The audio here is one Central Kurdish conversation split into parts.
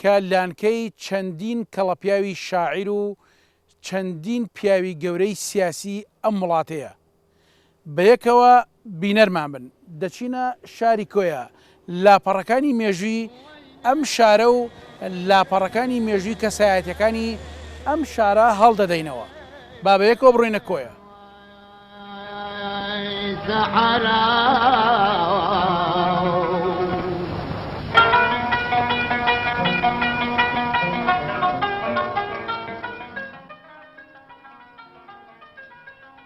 کە لانکەی چەندین کەڵەپیاوی شاعیر و چەندین پیاوی گەورەی سیاسی ئەم وڵاتەیە. بە یەکەوە بینەرمان بن. دەچینە شاری کۆیە، لاپەڕەکانی مێژووی ئەم شارە و لاپەڕەکانی مێژووی کەسایەتییەکانی ئەم شارە هەڵدەدەینەوە. با بە یەکەوە بڕۆینە کۆیە.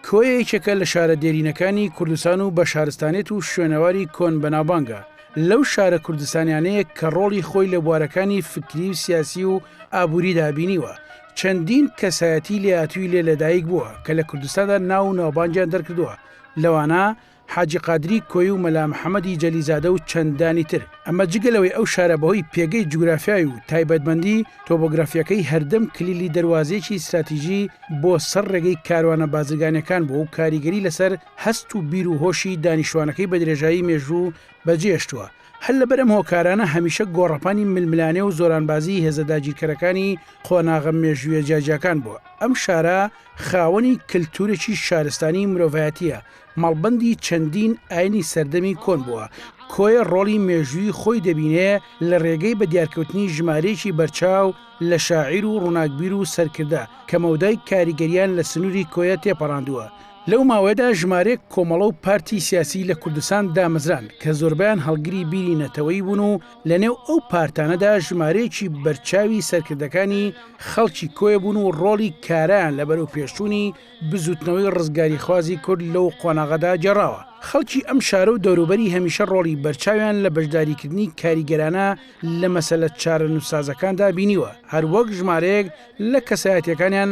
کۆیە یەکێکە لە شارە دێرینەکانی کوردستان و بە شارستانێت و شوێنەواری کۆن بەناوبانگە لەو شارە کوردستانیانەیە کە ڕۆڵی خۆی لە بوارەکانی فکری و سیاسی و ئابووری دابینیوە چەندین کەسایەتی لێهاتووی لێ لەدایک بووە کە لە کوردستاندا ناو و ناوبانگیان دەرکردووە، لەوانە، حاجی قادری کۆیی و مەلا محەمەدی جەلیزادە و چەندانی تر، ئەمە جگە لەوەی ئەو شارە بەهۆی پێگەی جوگرافیای و تایبەتمەندی تۆبۆگرافییەکەی هەردەم کلیلی دەروازەیەکی ستراتیژی بۆ سەر ڕێگەی کاروانە بازرگانییەکان بووە و کاریگەری لەسەر هەست و بیر و هۆشی دانیشتوانەکەی بەدرێژایی مێژوو بەجێهێشتووە، هەر لەبەر ئەم هۆکارانە هەمیشە گۆڕەپانی ململانێ و زۆرانبازیی هێزە داگیرکەرەکانی قۆناغە مێژوویە جیاجیاکان بووە. ئەم شارە خاوەنی کلتوورێکی شارستانیی مرۆڤایەتییە، مەڵبەندی چەندین ئاینی سەردەمی کۆن بووە. کۆیە ڕۆڵی مێژوویی خۆی دەبینێ لە ڕێگەی بە دیارکەوتنی ژمارەیەکی بەرچاو لە شاعیر و ڕووناکبیر و سەرکردە کە مەودای کاریگەرییان لە سنووری کۆیە تێپەڕاندووە. لەو ماوەیەدا ژمارەیەک کۆمەڵە و پارتی سیاسی لە کوردستان دامەزران کە زۆربەیان هەڵگری بیری نەتەوەیی بوون و لە نێو ئەو پارتانەدا ژمارەیەکی بەرچاوی سەرکردەکانی خەڵکی کۆیە بوون و ڕۆڵی کارایان لە بەرەوپێشچوونی بزووتنەوەی ڕزگاریخوازی کورد لەو قۆناغەدا گێڕاوە. خەڵکی ئەم شارە و دەوروبەری هەمیشە ڕۆڵی بەرچاویان لە بەشداریکردنی کاریگەرانە لە مەسەلە چارەنووسسازەکاندا بینیوە، هەروەک ژمارەیەک لە کەسایەتییەکانیان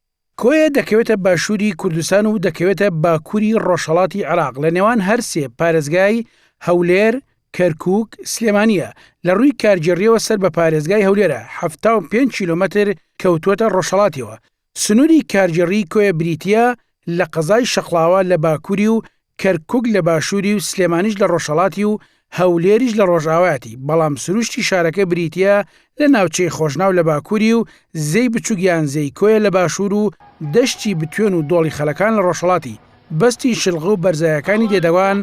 کۆیە دەکەوێتە باشووری کوردستان و دەکەوێتە باکووری ڕۆژهەڵاتی عێراق، لە نێوان هەر سێ پارێزگای هەولێر، کەرکووک، سلێمانییە، لە ڕووی کارگێڕییەوە سەر بە پارێزگای هەولێرە، حەفتا و پێنج کیلۆمەتر کەوتووەتە ڕۆژهەڵاتیەوە. سنووری کارگێڕیی کۆیە بریتییە لە قەزای شەقڵاوە لە باکووری و کەرکوک لە باشووری و سلێمانیش لە ڕۆژهەڵاتی و هەولێریش لە ڕۆژاوایەتی، بەڵام سروشتی شارەکە بریتییە لە ناوچەی خۆشناو لە باکووری و زێی بچووک یان زێی کۆیە لە باشوور و دەشتی بتوێن و دۆڵی خەلەکان لە ڕۆژهەڵاتی، بەستی شلغە و بەرزایەکانی دێدەگان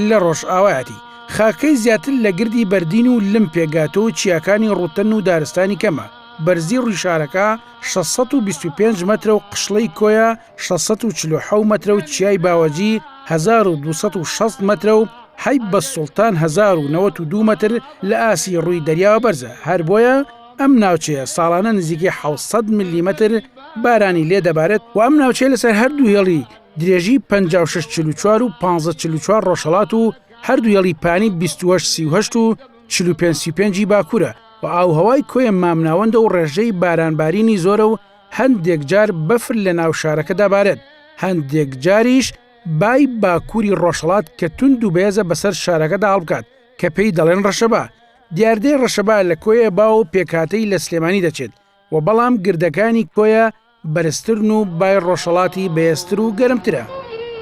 لە ڕۆژاوایەتی. خاکەکەی زیاتر لە گردی بەردین و لم پێکگاتووە و چیاکانی ڕووتەن و دارستانی کەمە، بەرزی ڕووی شارەکە شەش سەد و بیست و پێنج مەترە و قشڵەی کۆیە 647 مەترە و چیای باوەجی 1260 مەترە و حیب بە سوڵتان 1992 مەتر لە ئاسی ڕووی دەریاوە بەرزە هەر بۆیە ئەم ناوچەیە ساڵانە نزیکەی 600 ملیمتر بارانی لێ دەبارێت و ئەم ناوچەیە لەسەر هەردوو هێڵی درێژی 5644 و 1544 ڕۆژهڵات و هەردوو هێڵی پانی 28 و 45 باکوورە و ئاوهوای کۆیە مامناوەندە و ڕێژەی بارانبارینی زۆرە و هەندێک جار بەفر لە ناو شارەکە دابارێت، هەندێک جاریش بای باکووری ڕۆژهەڵات کە توند و بەێزە بەسەر شارەکەدا هەڵبکات کە پێی دەڵێن ڕەشەبا. دیاردەی ڕەشەبا لە کۆیە با و پێکهاتەی لە سلێمانی دەچێت و بەڵام گردەکانی کۆیە بەرزترن و بای ڕۆژهەڵاتی بەێزتر و گەرمترە.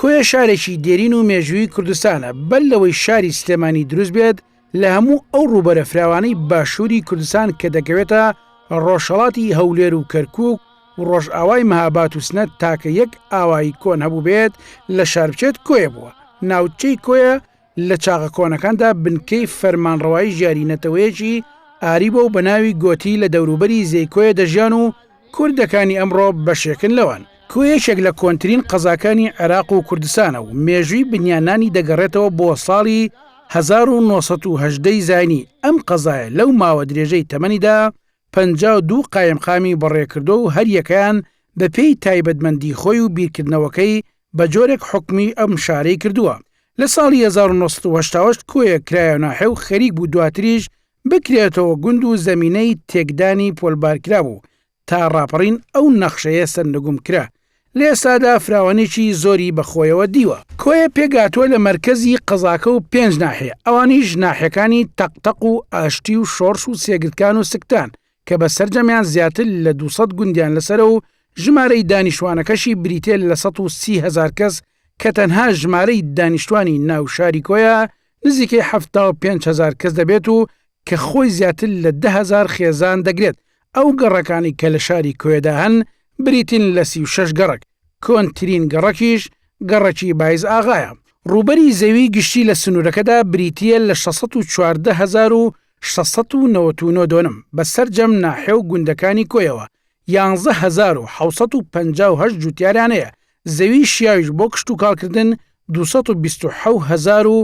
کۆیە شارێکی دێرین و مێژووی کوردستانە، بەر لەوەی شاری سلێمانی دروست بێت لە هەموو ئەو ڕووبەرە فراوانەی باشووری کوردستان کە دەکەوێتە ڕۆژهەڵاتی هەولێر و کەرکووک و ڕۆژئاوای مهاباد و سنە تاکە یەک ئاوایی کۆن هەبووبێت لە شار بچێت کۆیە بووە، ناوچەی کۆیە لە چاغە کۆنەکاندا بنکەی فەرمانڕەوایی ژیاری نەتەوەیەکی ئاری بۆ و بە ناوی گۆتی لە دەوروبەری زێکۆیە دەژیان و کوردەکانی ئەمڕۆ بەشێکن لەوان. کۆ یەکێک لە کۆنترین قەزاکانی عێراق و کوردستانە و مێژووی بنیاننانی دەگەڕێتەوە بۆ ساڵی هەزار و نۆ سەد و هەژدە ی زاینی، ئەم قەزایە لەو ماوە درێژەی تەمەنیدا پەنجا و دوو قایمقامی بەڕێکردووە و هەریەکەیان بەپێی تایبەتمەندی خۆی و بیرکردنەوەکەی بە جۆرێک حوکمی ئەم شارەی کردووە. لە ساڵی هەزار و نۆ سەد و هەشتا و هەشت کۆیە کرایە ناحێ و خەریک بوو دواتریش بکرێتەوە گوند و زەمینەی تێکدانی پۆلبار کرابوو تا ڕاپەڕین ئەو نەخشەیە سەرنگوم کرا لە ئێستادا فراوانیی زۆری بە خۆیەوە دیوە. کۆیە پێکهاتووە لە مەرکەزی قەزاکە و پێنج ناحێ، ئەوانیش ناحێکانی تەق تەق و ئاشتی و شۆڕش و سێگردکان و سکتان کە بە سەرجەمیان زیاتر لە دوو سەد گوندیان لەسەرە و ژمارەی دانیشتوانەکەشی بریتیە لە سەد و سی هەزار کەس کە تەنها ژمارەی دانیشتوانی ناو شاری کۆیە نزیکەی حەفتا و پێنج هەزار کەس دەبێت و کە خۆی زیاتر لە دە هەزار خێزان دەگرێت، ئەو گەڕەکانی کە لە شاری کۆیەدا هەن بریتین لە سی و شەش گەڕەک، کۆنترین گەڕەکیش گەڕەکی بایز ئاغایە. ڕووبەری زەوی گشتی لە سنوورەکەدا بریتییە لە شەش سەد و چواردە هەزار و شەش سەد و نەوەت و نۆ دۆنم، بە سەرجەم ناحێ و گوندەکانی کۆیەوە یانزە هەزار و حەوت سەد و پەنجا و هەشت جووتیارانەیە، زەوی شیاویش بۆ کشتوکاڵکردن دوو سەد و بیست و حەوت هەزار و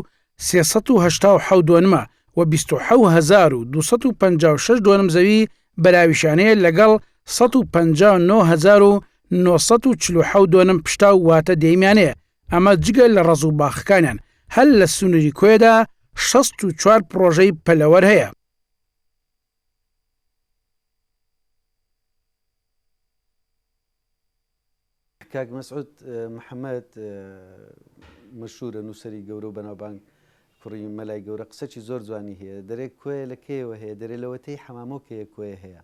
سێ سەد و هەشتا و حەوت دۆنمە و بیست و حەوت هەزار و دوو سەد و پەنجا و شەش دۆنم زەوی بەراویشانەیە لەگەڵ سەد و پەنجا و نۆ هەزار و نۆ سەد و چل و حەوت دۆنم پشتاو واتە دێیمیانەیە ئەمە جگە لە ڕەز و باخەکانیان، هەر لە سنووری کۆیەدا شەست و چوار پڕۆژەی پەلەوەر هەیە. کاک مەسعود محەمەد مەشهورە نووسەری گەورە و بەناوبانگ کوڕی مەلای گەورە قسەکی زۆر جوانی هەیە دەرێک کوێ لە کێوە هەیە دەرێ لەوەتەی حەمامۆکەیە کوێ هەیە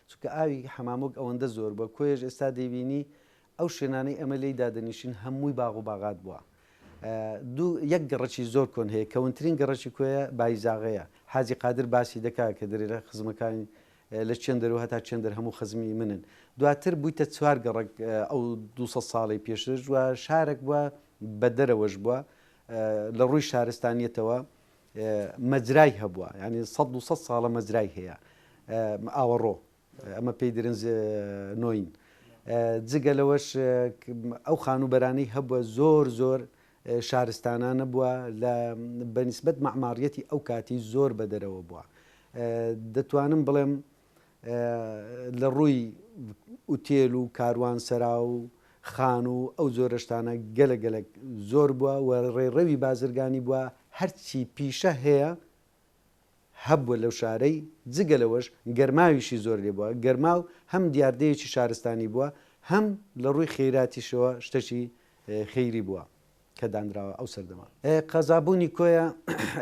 چونکە ئاوی حەمامۆک ئەوەندە زۆر بە کۆێژ ئێستا دەیبینی ئەو شوێنانەی ئێمە لێی دادەنیشین هەمووی باغ و باغات بووە. دوو، یەک گەڕەکی زۆر کۆن هەیە، کەونترین گەڕەکی کۆیە بایزاغەیە، حاجی قادر باسی دەکا کە درێرە خزمەکانی لە چێندەرەوە هەتا چێندەر هەموو خزمی منن. دواتر بوویتە چوار گەڕەک ئەو دوو سەد ساڵەی پێشتر و شارێک بووە بە دەرەوەش بووە لە ڕووی شارستانیەتەوە مەجرای هەبووە یانی سەد دوو سەد ساڵە مەجرای هەیە ئاوەڕۆ. ئەمە پێی درنز نۆین. جگە لەوەش ئەو خانووبەرانەی هەبووە زۆر زۆر شارستانانە بووە لە بە نیسبەت مەعماڕیەتی ئەو کاتی زۆر بە دەرەوە بووە. دەتوانم بڵێم لە ڕووی ئوتێل و کاروان سەرا و خان و ئەو جۆرە شتانە گەلە گەلەک زۆر بووە و ڕێڕەوی بازرگانی بووە هەرچی پیشە هەیە، هەبووە لەو شارەی، جگە لەوەش گەرماویشی زۆر لێ بووە، گەرماو هەم دیاردەیەکی شارستانی بووە، هەم لە ڕووی خێراتیشەوە شتەکی خێری بووە کە دانراوە ئەو سەردەمە. قەزابوونی کۆیە،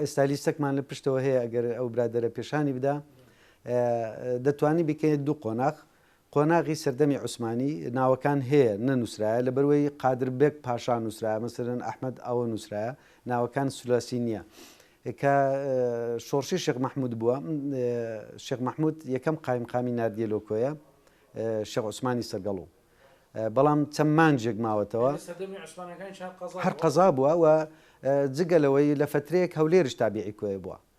ئێستا لیستەکمان لە پشتەوە هەیە ئەگەر ئەو برادەرە پێشانی بدا، دەتوانی بیکەیە دوو قۆناغ، قۆناغی سەردەمی عوسمانی ناوەکان هەیە نەنووسرایە لەبەروەی قادر بەگ پاشا نووسرایە مەسەلەن ئەحمەد ئاوە نووسرایە ناوەکان سلاسی نیە کە شۆڕشی شێخ مەحمود بووە شێخ مەحمود یەکەم قایمقامی ناردیە لۆ کۆیە شێخ عوسمانی سەرگەڵو بەڵام چەند مانجێک ماوەتەوە هەر قەزا بووە و جگە لەوەی لە فەترەیەک هەولێرش تابیعی کۆیە بووە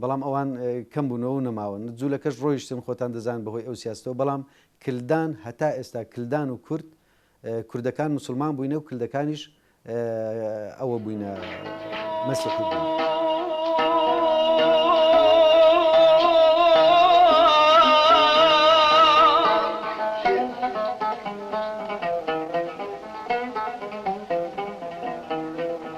بەڵام ئەوان کەم بوونەوە و نەماون. جوولەکەش ڕۆیشتن، خۆتان دەزانن بە هۆی ئەو سیاسەتەوە، بەڵام کلدان هەتا ئێستا کلدان و کورد، کوردەکان موسڵمان بووینە و کلدەکانیش ئەوە بووینە مەسیحی بووین.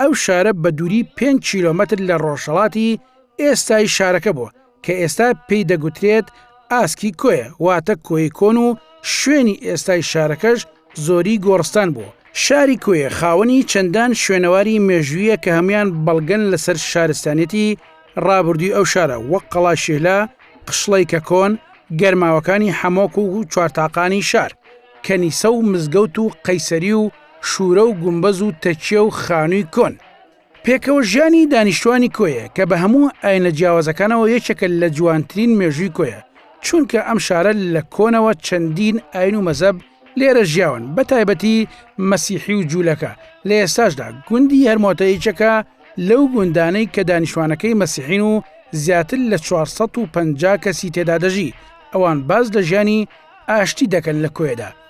ئەو شارە بە دووری پێنج کیلۆمەتر لە ڕۆژهەڵاتی ئێستای شارەکە بووە، کە ئێستا پێی دەگوترێت ئاسکی کۆیە، واتە کۆیەی کۆن و شوێنی ئێستای شارەکەش زۆری گۆڕستان بووە. شاری کۆیە خاوەنی چەندان شوێنەواری مێژوویە کە هەموویان بەڵگەن لەسەر شارستانیەتی ڕابردووی ئەو شارە، وەک قەڵای شیهلە، قشڵەی کەکۆن، گەرماوەکانی حەمۆک و چوارتاقانی شار، کەنیسە و مزگەوت و قەیسەری و. شوورە و گومبەز و تەکیە و خانووی کۆن. پێکەوە ژیانی دانیشتوانی کۆیە کە بە هەموو ئاینە جیاوازەکانەوە یەکێکە لە جوانترین مێژووی کۆیە، چونکە ئەم شارە لە کۆنەوە چەندین ئاین و مەزەب لێرە ژیاون بە تایبەتی مەسیحی و جوولەکە، لە ئێستاشدا گوندی هەرمۆتە یەکێکە لەو گوندانەی کە دانیشتوانەکەی مەسیحین و زیاتر لە چوار سەد و پەنجا کەسی تێدا دەژی، ئەوان باس لە ژیانی ئاشتی دەکەن لە کۆیەدا.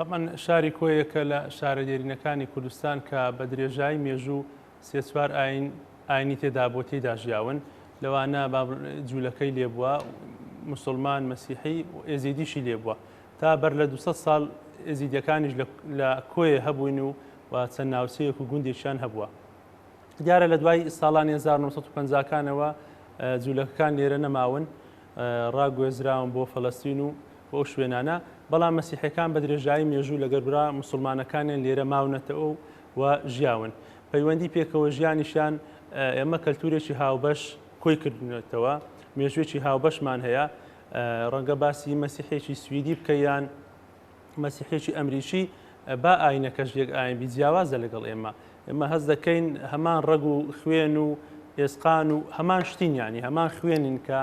تەبعەن شاری کۆیە یەکە لە شارە دێرینەکانی کوردستان کە بە درێژایی مێژوو سێ چوار ئاین ئاینی تێدا بۆ تێدا ژیاون لەوانە جوولەکەی لێبووە مسلمان مەسیحی ئێزیدیشی لێبووە تا بەر لە 200 ساڵ ئێزیدەکانیش لە کۆیە هەبووین و و چەند ناوچەیەک و گوندێکیان هەبووە دیارە لە دوای ساڵانی 1950 کانەوە جوولەکەکان لێرە نەماون ڕاگوێزراون بۆ فەلەستین و بۆ شوێنانە بەڵام مەسیحەکان بە درێژایی مێژوو لەگەر برا مسلمانەکانیان لێرە ماونەتەوە و ژیاون پەیوەندی پێکەوە ژیانیشان ئێمە کەلتورێکی هاوبەش کۆی کردنێتەوە مێژوێکی هاوبەشمان هەیە ڕەنگە باسی مەسیحێکی سویدی بکەیان مەسیحێکی ئەمریکی با ئاینەکەش یەک ئاین بی جیاوازە لەگەڵ ئێمە ئێمە هەز دەکەین هەمان ڕەگ و خوێن و ئێسقان و هەمان شتینیانی هەمان خوێنین کە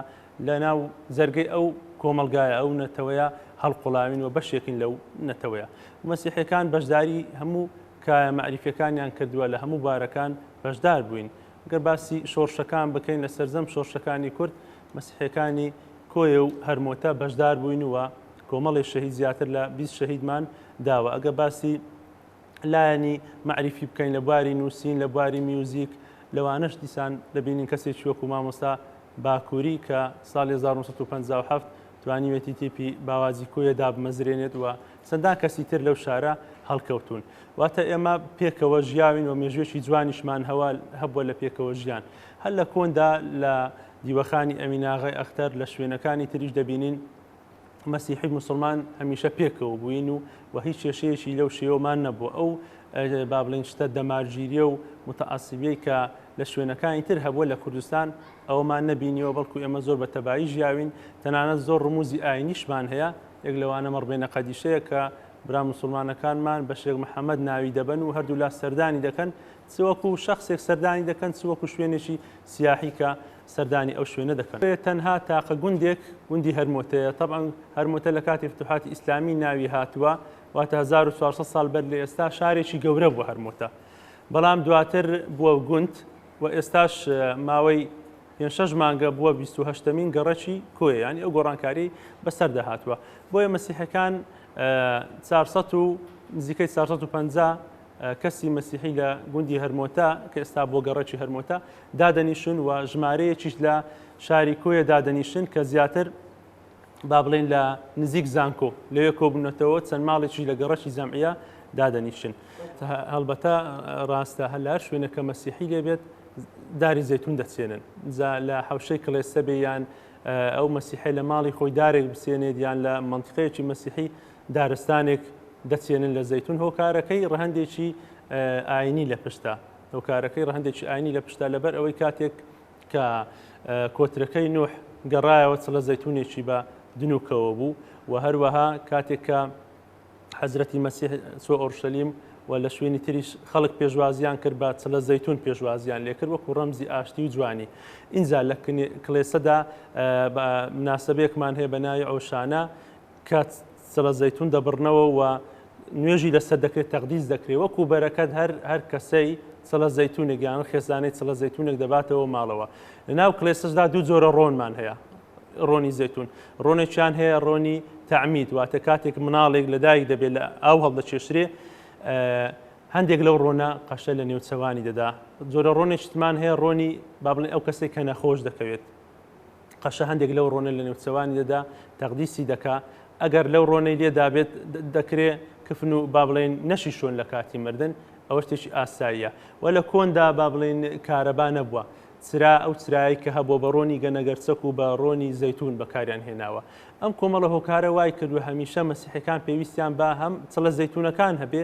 لە ناو جەرگەی ئەو کۆمەلگایە ئەو نەتەوەیە هەڵقڵاوین و بەشێکین لەو نەتەوەیە مەسیحەکان بەشداری هەموو کایە مەعریفەکانیان کردووە لە هەموو بارەکان بەشدار بووین گەر باسی شۆرشەکان بکەین لە سەررجەم شۆرشەکانی کورد مەسیحیەکانی کۆیە و هەرمۆتە بەشدار بووین و کۆمەڵی شەهید زیاتر لە بیست شەهیدمان داوە ئەگەر باسی لایەنی مەعریفی بکەین لە بواری نووسین لە بواری میوزیک لەوانەش دیسان دەبینین کەسێکی وەکو مامۆستا باکووری کە ساڵی 1957 توانیوێتی تیپی باوازی کۆیە دابمەزرێنێت و چەندان کەسی تر لەو شارە هەڵکەوتون واتە ئێمە پێکەوە ژیاوین و مێژوێکی جوانیشمان هەوا هەبووە لە پێکەوە ژیان هەر لە کۆندا لە دیوەخانی ئەمیناغای ئەختەر لە شوێنەکانی تریش دەبینین مەسیحی مسلمان هەمیشە پێکەوە بووین و و هیچ کێشەیەکی لەو شێوەمان نەبوو ئەو با بڵین شتە دەمارگیریە و متعسبیەی کە لە شوێنەکانی تر هەبووە لە کوردستان ئەومان نەبینیەوە بەڵکو ئێمە زۆر بە تەبایی ژیاوین تەنانەت زۆر ڕموزی ئاینیشمان هەیە یەک لەوانە مەڕبێنە قەدیشەیە کە برا مسلمانەکانمان بە شێخ محەممەد ناوی دەبن و هەردوو لا سەردانی دەکەن چ وەکو شەخسێک سەردانی دەکەن چ وەکو شوێنێکی سیاحی کە سەردانی ئەو شوێنە دەکەن. تەنها تاقە گوندێک گوندی هەرمۆتەیە، تەبعەن هەرمۆتە لە کاتی فتوحاتی ئیسلامی ناوی هاتووە، واتە هەزار و چوار سەد ساڵ بەر لە ئێستا شارێکی گەورە بووە هەرمۆتە، بەڵام دواتر بووە گوند و ئێستاش ماوەی پێنج شەش مانگە بووە بیست و هەشتەمین گەڕەکی کۆیە، یانی ئەو گۆڕانکاریەی بەسەردا هاتووە، بۆیە مەسیحەکان چوار سەد و نزیکەی چوار سەد و پەنجا کەسی مەسیحی لە گوندی هەرمۆتە، کە ئێستا بووە گەڕەکی هەرمۆتە، دادەنیشن و ژمارەیەکیش لە شاری کۆیە دادەنیشن کە زیاتر با بڵێن لە نزیک زانکۆ لەوێ کۆبوونەتەوە چەند ماڵێکی لە گەڕەکی جەمعە دادەنیشن هەڵبەتە ڕاستە هەر لە شوێنەکە مەسیحی لێبێت داری زەتون دەچێنن جا لە حوشەی کڵێسەبێ یان ئەو مەسیحی لە ماڵی خۆی دارێک بسێنێت یان لە منطقەیەکی مەسیحی دارستانێک دەچێنن لە زەیتون هۆکارەکەی ڕەهەندێکی ئاینی لە پشتە هۆکارەکەی ڕەهندێکی ئاینی لە پشتە لەبەر ئەوەی کاتێک کە کۆترەکەی نوح گەڕایەوە چ لە زەتونێکی بە دنوکەوە بوو و هەروەها کاتێک کە حەزرەتی مەسیح سۆ ئۆرشەلیم و لە شوێنی تریش خەڵک پێشوازیان کرد بە چ لە زەتون پێشوازیان لێکرد وەکو ڕەمزی ئاشتی و جوانی ئینجا لە کلێسەدا مناسبەیەکمان هەیە بە ناوی ئەوشانە کات سەبە زەیتون دەبڕنەوە و نوێژی لەسەر دەکرێت تەقدیس دەکرێت وەکو بەرەکەت هەر هەر کەسەی سەڵە زەیتونێک یان خێزانەی سەڵە زەیتونێک دەباتەوە ماڵەوە لەناو کلێسەشدا دوو جۆرە ڕۆنمان هەیە ڕۆنی زەتون ڕۆنێکیان هەیە ڕۆنی تعمید واتە کاتێک مناڵێک لەدایک دەبێت لە ئاو هەڵدەچێشرێ هەندێک لەو ڕۆنە قەشە لە نێوچەوانی دەدا جۆرە ڕۆنێکتمان هەیە ڕۆنی بابلێ ئەو کەسێک کە نەخۆش دەکەوێت قەشە هەندێک لەو ڕۆنە لە نێوچەوانی دەدا تەقدیسی دەکا ئەگەر لەو ڕۆنەی لێدابێت دەکرێ کفن و با بڵێن نەشی شوێن لە کاتی مردن ئەوە شتێکی ئاساییە و لە کۆندا با بڵێن کارەبا نەبووە چرا ئەو چرایی کە هەبوو بە ڕۆنی گەنەگەرچەک و بە ڕۆنی زەتون بەکاریان هێناوە ئەم کۆمەڵە هۆکارە وای کردو هەمیشە مەسیحەکان پێویستیان بە هەم چڵە زەتونەکان هەبێ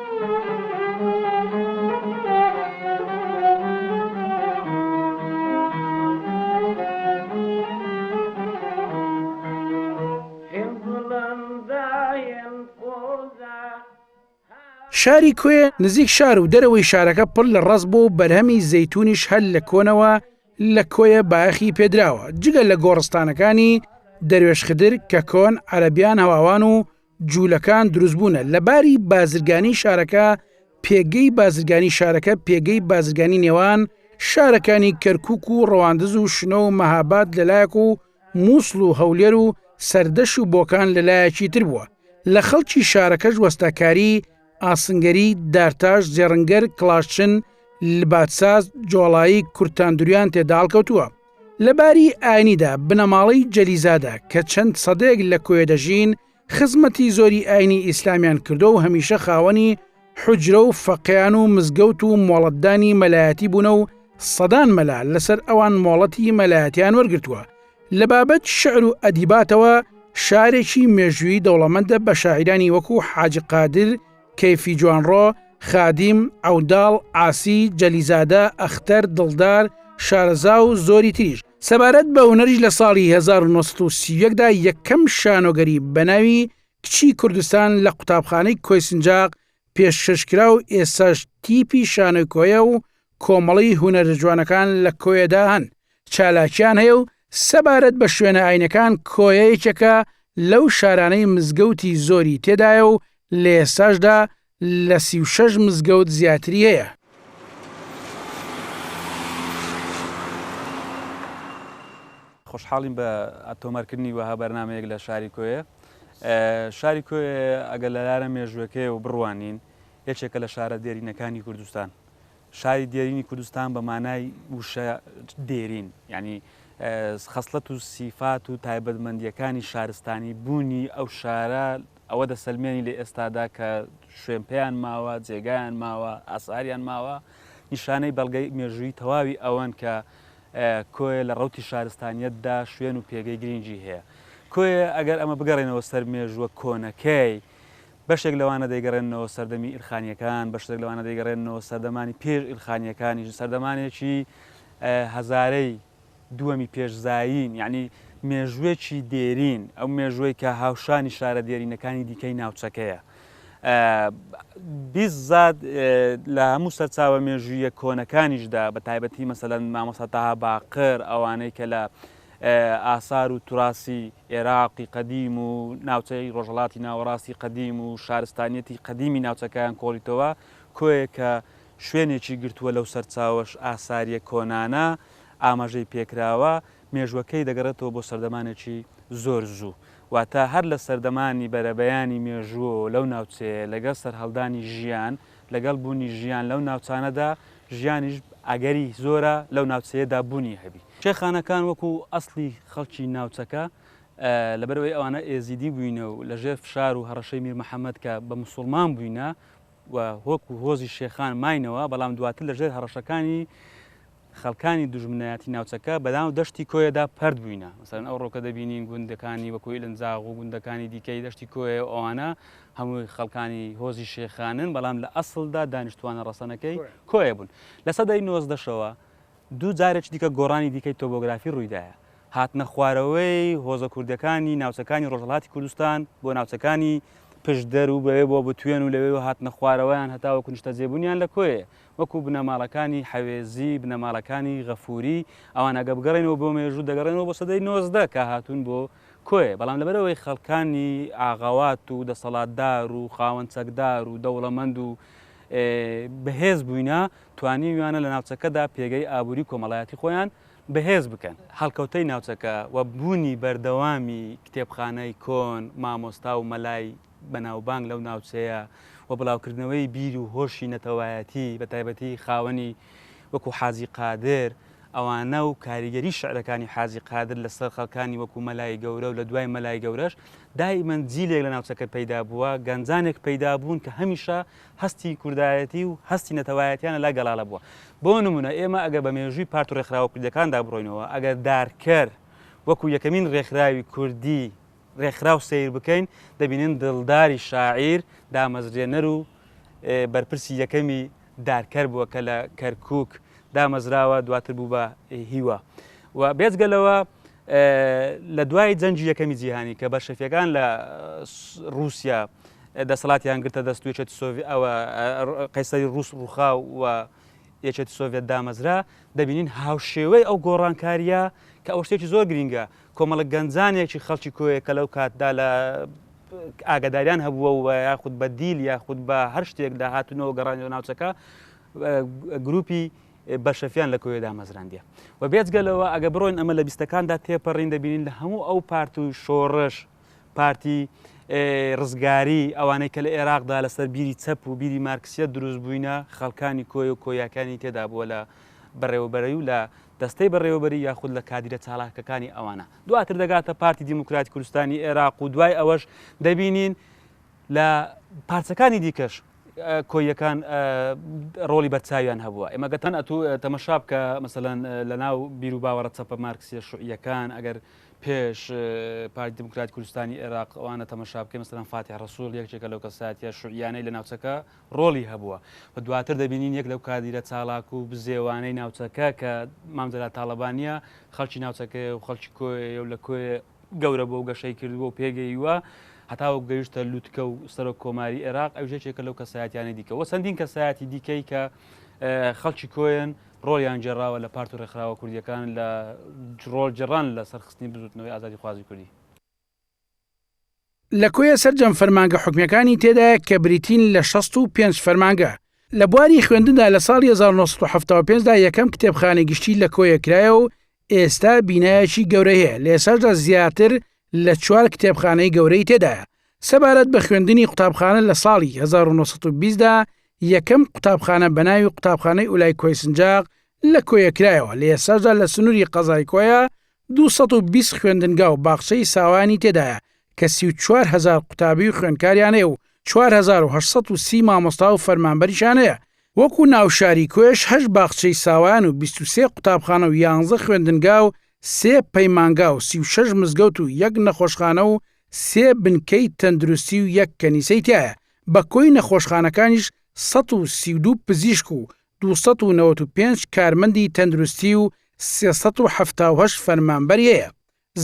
شاری کوێ نزیک شار و دەرەوەی شارەکە پڕ لە ڕاست بۆ و بەرهەمی زەتونیش هەل لە کۆنەوە لە کۆیە باخی پێدراوە جگە لە گۆڕستانەکانی دەروێشخدر کە کۆن عەربیان هەواوان و جوولەکان دروستبوونە لە باری بازرگانی شارەکە پێگەی بازرگانی شارەکە پێگەی بازرگانی نێوان شارەکانی کەرکک و ڕەواندز و شنۆ و مەهاباد لەلایەک و مووسڵ و هەولێر و سەردەش و بۆکان لەلایەکی تر بووە لە خەڵکی شارەکەش وەستاکاری ئاسنگەری، دارتاش، زێڕنگەر، کڵاشچن، لباتساز، جۆڵایی، کورتاندوریان تێدا هەڵکەوتووە. لە باری ئاینیدا بنەماڵەی جەلیزادە کە چەند سەدەیەک لە کۆیە دەژین، خزمەتی زۆری ئاینی ئیسلامیان کردووە و هەمیشە خاوەنی حوجرە و فەقێیان و مزگەوت و مۆڵەتدانی مەلایەتی بوونە و سەدان مەلا لەسەر ئەوان مۆڵەتی مەلایەتیان وەرگرتووە لە بابەت شعر و ئەدیباتەوە شارێکی مێژووی دەوڵەمەندە بە شاعیرانی وەکو حاج قادر کەیفی جوانڕۆ خادیم عوداڵ عاسی جەلیزادە ئەختەر دڵدار شارەزا و زۆری تریش سەبارەت بە هونەریش لە ساڵی 1930 دا یەکەم شانۆگەری بەناوی کچی کوردستان لە قوتابخانەی کۆیسنجاق پێشکەشکرا و ئێساش تیپی شانۆی کۆیە و کۆمەڵی هونەرە جوانەکان لە کۆیەدا هەن چالاکیان هەیە و سەبارەت بە شوێنە ئاینەکان کۆیە یەکێکە لەو شارانەی مزگەوتی زۆری تێدایە و لە ئێستاشدا لە سی و شەش مزگەوت زیاتری هەیە. خۆشحاڵین بە تۆمارکردنی وەها بەرنامەیەک لە شاری کۆیە. شاری کۆیە ئەگەر لە لارە مێژووەکەی و بڕوانین یەکێکە لە شارە دێرینەکانی کوردستان. شاری دێرینی کوردستان بە مانای وشە دێرین یانی خەسڵەت و سیفات و تایبەتمەندییەکانی شارستانی بوونی ئەو شارە ئەوە دەسەلمێنی لە ئێستادا کە شوێن پێیان ماوە جێگایان ماوە ئاساریان ماوە نیشانەی بەڵگەی مێژووی تەواوی ئەوەن کە کۆیە لە ڕوتی شارستانیتدا شوێن و پێگەی گرنگی هەیە کۆیە ئەگەر ئەمە بگەڕێنەوە سەر مێژووە کۆنەکەی بەشێک لەوانە دەیگەڕێننەوە سەردەمی ئیلخانییەکان، بەشێک لەوانە دەیگەڕێننەوە سەردەمانی پێش ئیلخانییەکانیش، سەردەمانێکی هەزارەی دووەمی پێش زایین، یانی مێژووێکی دێرین، ئەو مێژووەی کە هاوشانی شارە دێرینەکانی دیکەی ناوچەکەیە. بیست زاد لە هەموو سەرچاوە مێژوویە کۆنەکانیشدا بە تایبەتی مەسەلەن مامۆستا تاها باقر ئەوانەی کە لە ئاسار و توراسی ئێراقی قەدیم و ناوچەی ڕۆژهەڵاتی ناوەڕاستی قەدیم و شارستانیەتی قەدیمی ناوچەکەیان کۆڵیتەوە، کۆیەک کە شوێنێکی گرتووە لەو سەرچاوەش ئاساریە کۆنانە ئاماژەی پێکراوە، مێژوەکەی دەگەڕێتەوە بۆ سەردەمانێکی زۆر زوو، واتە هەر لە سەردەمانی بەرەبەیانی مێژووەوە لەو ناوچەیە لەگەڵ سەرهەڵدانی ژیان، لەگەڵ بوونی ژیان لەو ناوچانەدا، ژیانیش ئەگەری زۆرە لەو ناوچەیەدا بوونی هەبی. شێخانەکان وەکو ئەسڵی خەڵکی ناوچەکە، لەبەرئەوەی ئەوانە ئێزیدی بووینە و لەژێر فشار و هەڕەشەی میر محەمەد کە بە موسوڵمان بووینە و هۆک و هۆزی شێخان ماینەوە، بەڵام دواتر لەژێر هەڕەشەکانی، خەڵکانی دوژمنایەتی ناوچەکە بەناو دەشتی کۆیەدا پەرت بووینە مەسەلەن ئەوڕۆ کە دەبینین گوندەکانی وەکو ئیلنزاغ و گوندەکانی دیکەی دەشتی کۆیە و ئەوانە هەمووی خەڵکانی هۆزی شێخانن بەڵام لە ئەسڵدا دانیشتوانە ڕەسەنەکەی کۆیە بوون لە سەدەی نۆزدەشەوە دوو جارێکی دیکە گۆڕانی دیکەی تۆبۆگرافی ڕوویدایە هاتنە خوارەوەی هۆزە کوردەکانی ناوچەکانی ڕۆژهڵاتی کوردستان بۆ ناوچەکانی پشدەر و بەوێ بۆ بتوێن و لەوێ هاتنە خوارەوەیان هەتاوە کنشتە جێبوونیان لە کۆیە وەکو بنەماڵەکانی حەوێزی، بنەماڵەکانی غەفووری، ئەوان ئەگەر بگەڕێنەوە بۆ مێژوو دەگەڕێنەوە بۆ سەدەی نۆزدە کە هاتوون بۆ کۆیە، بەڵام لەبەرئەوەی خەڵکانی ئاغەوات و دەسەڵاتدار و خاوەن چەکدار و دەوڵەمەند و بەهێز بووینە، توانیویانە لە ناوچەکەدا پێگەی ئابووری و کۆمەڵایەتی خۆیان بەهێز بکەن. هەڵکەوتەی ناوچەکە و بوونی بەردەوامی کتێبخانەی کۆن، مامۆستا و مەلای بەناوبانگ لەو ناوچەیە و بڵاوکردنەوەی بیر و هۆشی نەتەوایەتی بە تایبەتی خاوەنی وەکو حاجی قادر ئەوانە و کاریگەری شعرەکانی حاجی قادر لەسەر خەڵکانی وەکو مەلای گەورە و لە دوای مەلای گەورەش دائیمەن جیلێک لە ناوچەکە پەیدا بووە گەنجانێک پەیدا بوون کە هەمیشە هەستی کوردایەتی و هەستی نەتەوایەتیانە لا گەڵاڵە بووە بۆ نمونە ئێمە ئەگەر بە مێژووی پارت و ڕێکخراوە کوردەکاندا بڕۆینەوە ئەگەر دارکەر وەکو یەکەمین ڕێکخراوی کوردی ڕێکخراو سەیر بکەین، دەبینین دڵداری شاعیر دامەزرێنەر و بەرپرسی یەکەمی دارکەر بووە کە لە کەرکووک دامەزراوە، دواتر بوو بە هیوا و بێجگە لەوە لە دوای جەنگی یەکەمی جیهانی کە بەلشەفیەکان لە رووسیا دەسەڵاتیان گرتە دەست و یەکێتی سۆڤی ئەوە قەیسەری رووس رووخا و یەکێتی سۆڤێت دامەزرا دەبینین هاوشێوەی ئەو گۆڕانکاریە کە ئەو شتێکی زۆر گرینگە کۆمەڵە گەنجانێکی خەڵکی کۆیە کە لەو کاتدا لە ئاگاداریان هەبووە و یاخود بە دیل یاخود بە هەر شتێک داهاتنەوە گەڕانەوە ناوچەکە گروپی بەشەفیان لە کۆیە دامەزراندە و بێجگەلەوە ئەگە بڕۆین ئەمە لە بیستەکاندا تێپەڕین دەبینین لە هەموو ئەو پارت و شۆڕش پارتی ڕزگاری ئەوانەی کە لە عێراقدا لەسەر بیری چەپ و بیری مارکسیە دروست بووینە خەڵکانی کۆی و کۆیاکانی تێدا بووە لە بەڕێوەبەرەی و لە دەستەی بەڕێوەبەری یاخود لە کادیرە چالاکەکانی ئەوانە، دواتر دەگاتە پارتی دیموکراتی کوردستانی ئێراق و دوای ئەوەش دەبینین لە پارچەکانی دیکەش کۆییەکان ڕۆڵی بەرچاویان هەبووە ئێمە گەتان ئەتو تەمەشا بکە مەسەلەن لە ناو بیر و باوەڕە چەپە مارکسیە شوعیەکان ئەگەر پێش پارتی دیموکراتی کوردستانی ئێراق ئەوانە تەمەشا بکەین مەسەلەن فاتح ڕەسوڵ یەکێکە لەو کەساتیە شوعیانەی لە ناوچەکە ڕۆڵی هەبووە و دواتر دەبینین یەک لەو کادیرە چالاک و بزێوانەی ناوچەکە کە مام جەلال تاڵەبانییە، خەڵکی ناوچەکەیە و خەڵکی کۆیەیە و لە کۆیە گەورە بووە و گەشەی کردووە و پێگەییوە هەتاوەکو گەیشتە لوتکە و سەرۆک کۆماری ئێراق، ئەویش یەکێکە لەو کەسایەتیانەی دیکە و چەندین کەسایەتی دیکەی کە خەڵکی کۆیەن ڕۆڵیان گێڕاوە لە پارت و ڕێکخراوە کوردییەکان لە ڕۆڵگێڕان لە سەرخستنی بزووتنەوەی ئازادیخوازی کوردی. لە کۆیە سەرجەم فەرمانگە حکومیەکانی تێدایە کە بریتین لە شەست و پێنج فەرمانگە. لە بواری خوێندندا لە ساڵی هەزار و نۆ سەد و حەفتا و پێنج دا یەکەم کتێبخانەی گشتی لە کۆیە کرایە و ئێستا بینایەکی گەورەی هەیە لە ئێستاشدا زیاتر لە چوار کتێبخانەی گەورەی تێدایە. سەبارەت بە خوێندنی قوتابخانە لە ساڵی هەزار و نۆ سەد و بیست دا یەکەم قوتابخانە بە ناوی قوتابخانەی ئولای کۆیسنجاق لە کۆیە کرایەوە لە ئێستاشدا لە سنوری قەزای کۆیە دوو سەد و بیست خوێندنگا و باخچەی ساوایانی تێدایە کە سی و چوار هەزار قوتابی و خوێندکاریان هەیە و چوار هەزار و هەشت سەد و سی مامۆستا و فەرمانبەریشان هەیە، وەکو ناوشاری کۆیەش هەشت باخچەی ساوایان و بیست و سێ قوتابخانە و یانزە خوێندنگا و سێ پەیمانگا و سی و شەش مزگەوت و یەک نەخۆشخانە و سێ بنکەی تەندروستی و یەک کەنیسەی تیایە، بە کۆی نەخۆشخانەکانیش سەد و سی و دوو پزیشک و دوو سەد و نەوەد و پێنج کارمەندی تەندروستی و سێ سەد و حەفتا و هەشت فەرمانبەری هەیە.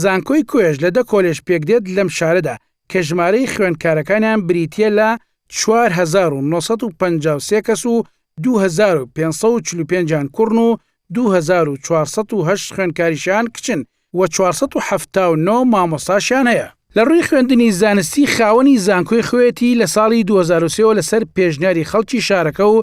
زانکۆی کۆیەش لە دە کۆلێژ پێکدێت لەم شارەدا کە ژمارەی خوێندکارەکانیان بریتییە لە چوار هەزار و نۆ سەد و پەنجا و سێ کەس و دوو هەزار و پێنج سەد و چل و پێنج یان کوڕن و دوو هەزار و چوار سەد و هەشت خوێندکاریشیان کچن و چوار سەد و حەفتا و نۆ مامۆستاشیان هەیە. لە ڕووی خوێندنی زانستی خاوەنی زانکۆی خۆیەتی لە ساڵی دوو هەزار و سێ وە لەسەر پێشنیاری خەڵکی شارەکە و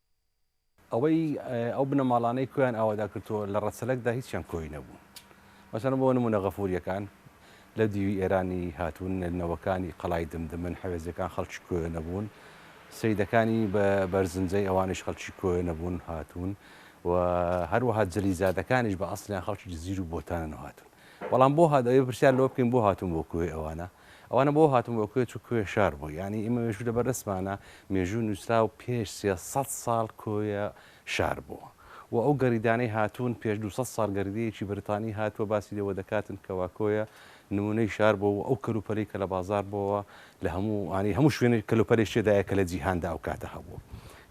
ئەوەی ئەو بنەماڵانەی کۆیان ئاوادا کردووە لە ڕەچەلەکدا هیچیان کۆی نەبوون مەسەن بۆ نمونە غەفوریەکان لە دیوی ئێرانی هاتوون نەوەکانی قەڵای دمدمن حەوێزەکان خەڵکی کۆیە نەبوون سیدەکانی بە بەرزنجەی ئەوانش خەڵکی کۆیە نەبوون هاتوون و هەروەها جلیزادەکانیش بە ئەسلیان خەڵکی جزیر و بۆتانن هاتوون بەڵام بۆ هات ئەوێ پرسیار لەوە بکەین بۆ هاتوون بۆ کۆی ئەوانە ئەوانە بۆ هاتن بۆ کوێ چوو کوێ شار بوو یانی ئیمە مێژوو لەبەر دەستمانە مێژوو نوسراو پێش سێ سەد ساڵ کۆیە شار بوو وە ئەو گەریدانەی هاتوون پێش دوو سەد ساڵ گەریدەیەکی بەریتانی هاتووە باسی لێوە دەکاتن کەوا کۆیە نمونەی شار بوو وە ئەو کەلوپەلەی کە لە بازار بۆوە لە هەموو ئانی هەموو شوێنێک کەلوپەلێک تێدایە کە لە جیهاندا ئەو کاتە هەبوو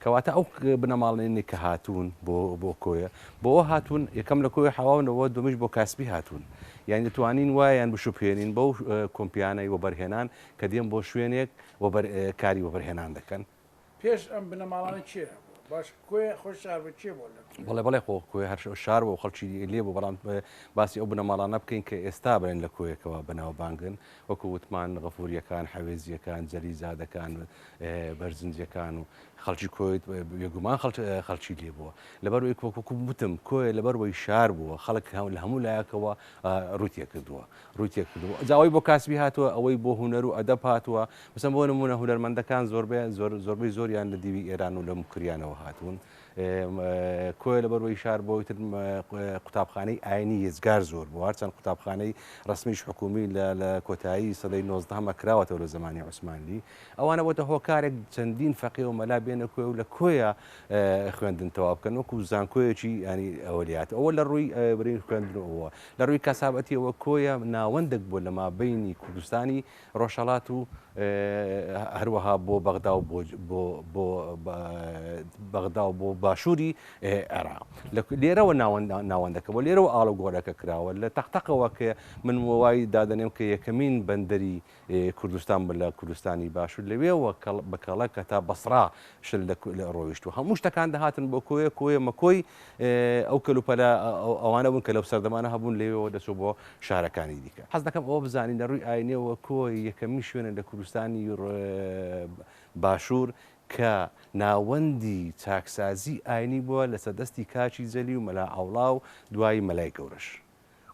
کەواتە ئەو بنەماڵەیەنی کە هاتوون بۆ بۆ کۆیە بۆوە هاتوون یەکەم لە کۆیە حەواونەوە دومیش بۆ کاسپی هاتوون یانی دەتوانین وایان بشوبهێنین بەو کۆمپیانەی وەبەرهێنان کە دێن بۆ شوێنێک و بەر کاری وەبەرهێنان دەکەن. پێش ئەم بنەماڵانە کێ هەبووە؟ باش کۆیە خۆی شار بوو کێ بووە لە کۆیە؟ بەڵێ بەڵێ خۆ کۆیە هەر شار بوو خەڵکی لێ بوو بەڵام باسی ئەو بنەماڵانە بکەین کە ئێستا بڵێن لە کۆیە کەوا بەناوبانگن وەکو وتمان غەفوریەکان، حەوێزیەکان، جەلیزادەکان، بەرزنجەکان و خەڵکی کۆیت بێگومان خەڵکی لێ بووە لەبەر وەک وەکو وتم کۆیە لەبەر وەی شار بووە خەڵک لە هەموو لایەکەوە ڕوتێ کردووە ڕوتێ کردووە جاوای بۆ کاسبی هاتووە ئەوەی بۆ هوەر و ئەدەب هاتووە بسم بۆ نمونە هوەرمەندەکان زۆربیان زۆر زۆربەی زۆریان لە دیوی ئێران و لەم کریانەوە هاتوون کۆیە لەبەر وەی شار بۆی تر قوتابخانەی ئاینی یزگار زۆر بوو هەرچەند قوتابخانەی ڕسمیش حکومی لە کۆتایی سەدەی نۆزدەهەمە کراوەتەوە لە زمانی عوسمانلی ئەوانە بۆتە هۆکارێک چەندین فەقێ و مەلا بێنە کۆی و لە کۆیە خوێندن تەوا بکەن وەکو زانکۆیەکی ینی ئەولیات ئەوە لە ڕووی برین خوێندنەوە لە ڕووی کەسابەتیەوە کۆیە ناوەندێک بۆ لەما بینی کوردستانی ڕۆژهەڵات و هەروەها بۆ بەغدا و بۆ بەغدا و بۆ باشووری عێراق لە لێرەوە ناوەندەکە بۆ لێرەوە ئاڵوگۆرەکە کراوە لە تەقتەقەوە کە من وای دادەنێم کە یەکەمین بەندەری کوردستان بە لە کوردستانی باشوور لەوێەوە بەکەڵەکە تا بەسرا شل دە ڕۆیشت و هەموو شتەکان دەهاتن بۆ کۆیە کۆیە مەکۆی ئەو کەلوپەلە ئەوانە بوون کە لەو سەردەمانە هەبوون لەوێەوە دەچوو بۆ شارەکانی دیکە حەز دەکەم ئەوە بزانین لە ڕووی ئاینیەوە کۆی یەکەمین شوێنە لە کوردستانی باشوور کە ناوەندی چاکسازی ئاینی بووە لەسەر دەستی کاکی جەلی و مەلا عەوڵا و دوایی مەلای گەورەش.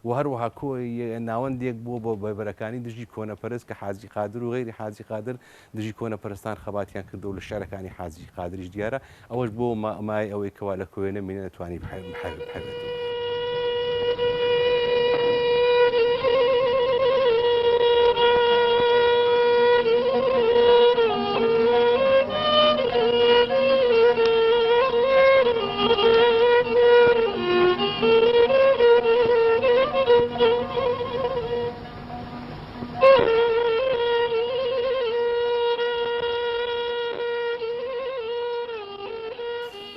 و هەروەها کۆ یە ناوەند ێک بووە بۆ بەرەکانی دژی کۆنە پەرست کە حاجی قادر و غەیری حاجی قادر دژی کۆنە پەرستان خەباتیان کردووە و لە شعرەکانی حاجی قادریش دیارە ئەوەش بۆ ما مایەی ئەوەی کەوا لە کۆ یە نە مینە توانی بحەوێتەوە.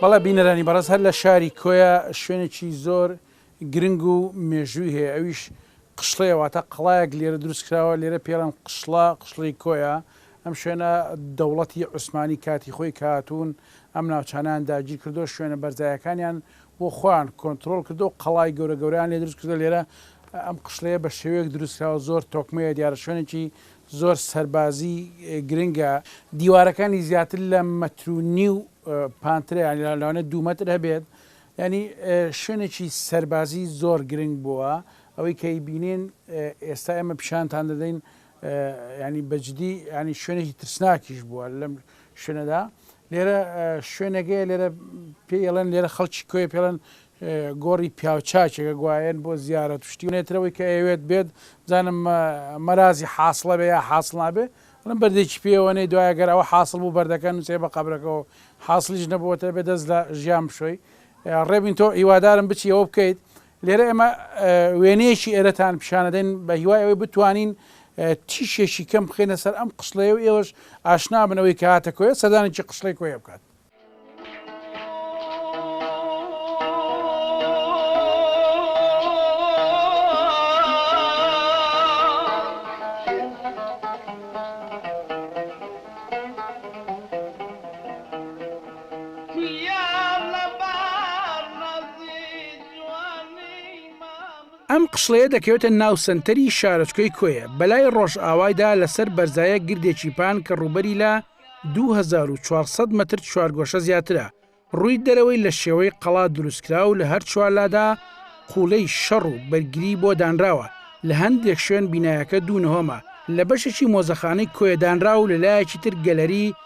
بەڵێ بینەرانی بەڕێز هەر لە شاری کۆیە شوێنێکی زۆر گرنگ و مێژووی هەیە ئەویش قشڵەیە واتە قەڵایەک لێرە دروستکراوە لێرە پێڵێن قشڵە قشڵی کۆیە ئەم شوێنە دەوڵەتی عوسمانی کاتی خۆی کە هاتوون ئەم ناوچانەیان داگیر کردو شوێنە بەرزایەکانیان بۆ خۆیان کۆنترۆڵ کردو قەڵای گەورە گەورەیان لێ دروست کردو لێرە ئەم قشڵەیە بە شێوەیەک دروست کراوە زۆر تۆکمەیە دیارە شوێنێکی زۆر سەربازی گرنگە دیوارەکانی زیاتر لە مەتر و نیو پانترە یانی لەوانێت دوو مەتر هەبێت ینی شوێنێکی سەربازی زۆر گرنگ بووە ئەوەی کەی بینین ئێستا ئێمە پیشانتان دەدەین یانی بەجدی یانی شوێنێکی ترسناکیش بووە لەم شوێنەدا لێرە شوێنەگەیە لێرە پێڵێن لێرە خەڵکی کۆی پێڵێن گۆڕی پیاوچاکێکە گوایەن بۆ زیارە توشتی نێترەوەی کە ئەوێت بێت زانم مەرازی حاصلە بێ یا حاصل نابێ لەم بەردێکی پێوەنەی دوایە گەر ئەوە حاصل بوو بەردەکە نووسێ بە قبرەکەەوە حاصلیش نەبووەتە بێ دەست لە ژیان بشۆی ڕێبین تۆ هیوادارم بچی ئەوە بکەیت لێرە ئێمە وێنەیەکی ئێرەتان پیشانەدەین بە هیوای ئەوەی بتوانین تیشێکی کەم بخینە سەر ئەم قسڵەیە و ئێوەش ئاشنا بنەوەی کە هاتە کۆیە سەردانێکی قسڵی کۆیە بکات. ئەم قشڵەیە دەکەوێتە ناو سەنتەری شارۆچکەی کۆیە بەلای ڕۆژئاوایدا لەسەر بەرزایە گردێکی پان کە ڕووبەری لە 2400 مەتر چوارگۆشە زیاترە، ڕووی دەرەوەی لە شێوەی قەڵا دروستکرا و لە هەر چوار لادا قوڵەی شەڕ و بەرگری بۆ دانراوە، لە هەندێک شوێن بینایەکە دوو نهۆمە، لە بەشێکی مۆزەخانەی کۆیە دانرا و لە لایەکی تر گەلەری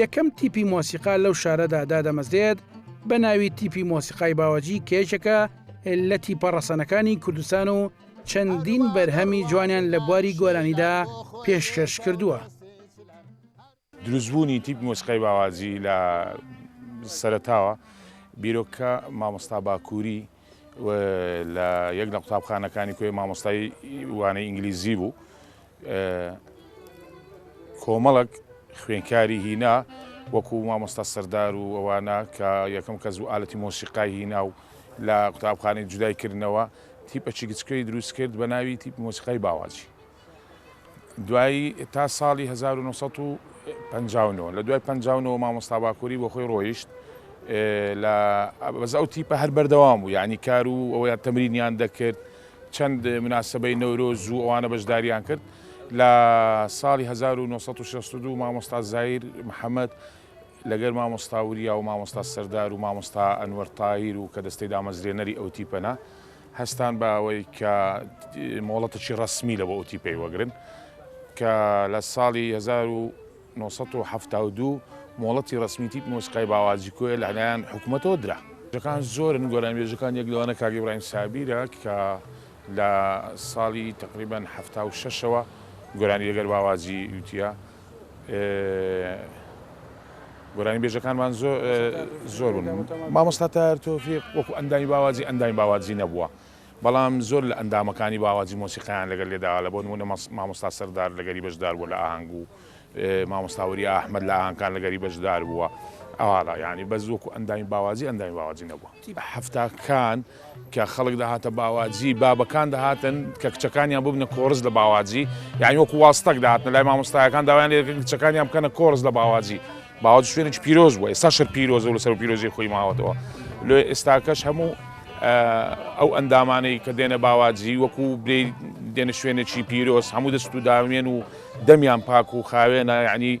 یەکەم تیپی مۆسیقا لەو شارەدا دادەمەزرێت بە ناوی تیپی مۆسیقای باوەجی کێشەکە لە تیپە ڕەسەنەکانی کوردستان و چەندین بەرهەمی جوانیان لە بواری گۆرانیدا پێشکەش کردووە. دروستبوونی تیپ مۆسیقای باواجی لە سەرەتاوە بیرۆکە مامۆستا باکووری و لە یەک لە قوتابخانەکانی کوێ مامۆستای وانەی ئینگلیزی بوو کۆمەڵک خوێنکاری هینا وەکو مامۆستا سەردار و ئەوانە کە یەکەم کەس و ئالەتی مۆسیقای هینا و لە قوتابخانەی جودای کردنەوە تیپەچی گچکەی دروست کرد بە ناوی تیپ مۆسیقای باواجی دوایی تا ساڵی هەزار و نۆ سەد و پەنجا و نۆ لە دوای پەنجا و نۆ مامۆستا باکووری بۆ خۆی ڕۆیشت لە بەس ئەو تیپە هەر بەردەوام بوو یعنی کار و ئەویان تەمرینیان دەکرد چەند مناسبەی نەورۆز و ئەوانە بەشداریان کرد لە ساڵی 1962 مامۆستا زایر محەممەد لەگەر مامۆستا وریا و مامۆستا سەردار و مامۆستا ئەنوەر تاهیر و کە دەستەی دامەزرێنەری ئەو تیپەنە هەستان بە ئەوەی کە مۆڵەتێکی ڕەسمی لە بۆتیپەی وەگرن کە لە ساڵی 1970 مۆڵەتی ڕسمی تیپ مۆسیقای باوازی کۆیە لە لایەن حکوومەتەوە درا. جەکان زۆرن گۆران بێژەکان یەک لەوانە کاگی برایم سابیرە کە لە ساڵی تقریبان ه شەوە گۆرانی لەگەر باوازی یوتە. گۆرانی بێژەکانمان زۆر زۆر بوون مامۆستا تار تۆفیق وەکو ئەندامی باوازی ئەندامی باوازی نەبووە بەڵام زۆر لە ئەندامەکانی باوازی مۆسیقیان لەگەل لێداوا لە بۆ نمونە مامۆستا سەردار لەگەری بەشدار بووە لە ئاهەنگ و مامۆستاوەری ئەحمد لە ئاهەنگکان لەگەری بەشدار بووە ئاواڵا یعنی بەس وەکو ئەندامی باوازی ئەندامی باوازی نەبووە. حەفتاکان کە خەڵک دەهاتە باواجی بابەکان دەهاتن کە کچەکانیان ببنە کۆرس لە باواجی یانی وەکو واستەک داهاتن لای مامۆستایەکان داوایان لێ دەکرد کچەکانیان بکەنە کۆرس لە باواجی باوەج شوێنێکی پیرۆز بووە ئێستا شەر پیرۆزە و لەسەر پیرۆزی خۆی ماوەتەوە لۆ ئێستاکەش هەموو ئەو ئەندامانەی کە دێنە باواجی وەکو بێ دێنە شوێنێکی پیرۆز هەموو دەست و داوێن و دەمیان پاک و خاوێنە یعنی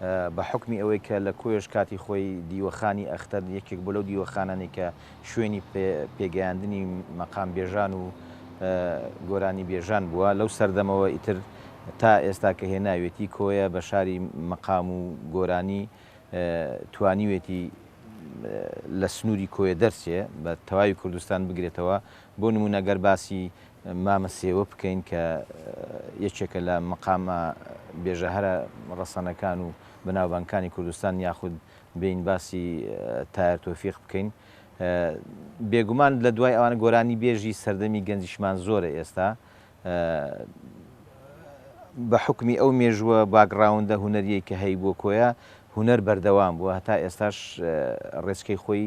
بە حوکمی ئەوەی کە لە کۆیەش کاتی خۆی دیوەخانی ئەختەر یەکێک بوو لەو دیوەخانانەی کە شوێنی پێگەیاندنی مەقامبێژان و گۆرانیبێژان بووە، لەو سەردەمەوە ئیتر تا ئێستا کە هێناوێتی کۆیە بە شاری مەقام و گۆرانی توانیوێتی لە سنووری کۆیە دەرچێ بە تەواوی کوردستان بگرێتەوە، بۆ نموونە گەر باسی مامە سێوە بکەین کە یەکێکە لە مەقامە بێژە هەرە ڕەسەنەکان و بەناوبانگکانی کوردستان یاخود بێین باسی تایەر تۆفیق بکەین بێگومان لە دوای ئەوانە گۆرانی بێژی سەردەمی گەنجیشمان زۆرە ئێستا بە حوکمی ئەو مێژووە باکگراوندە هونەریەی کە هەیبووە کۆیە هونەر بەردەوام بووە هەتا ئێستاش ڕێچکەی خۆی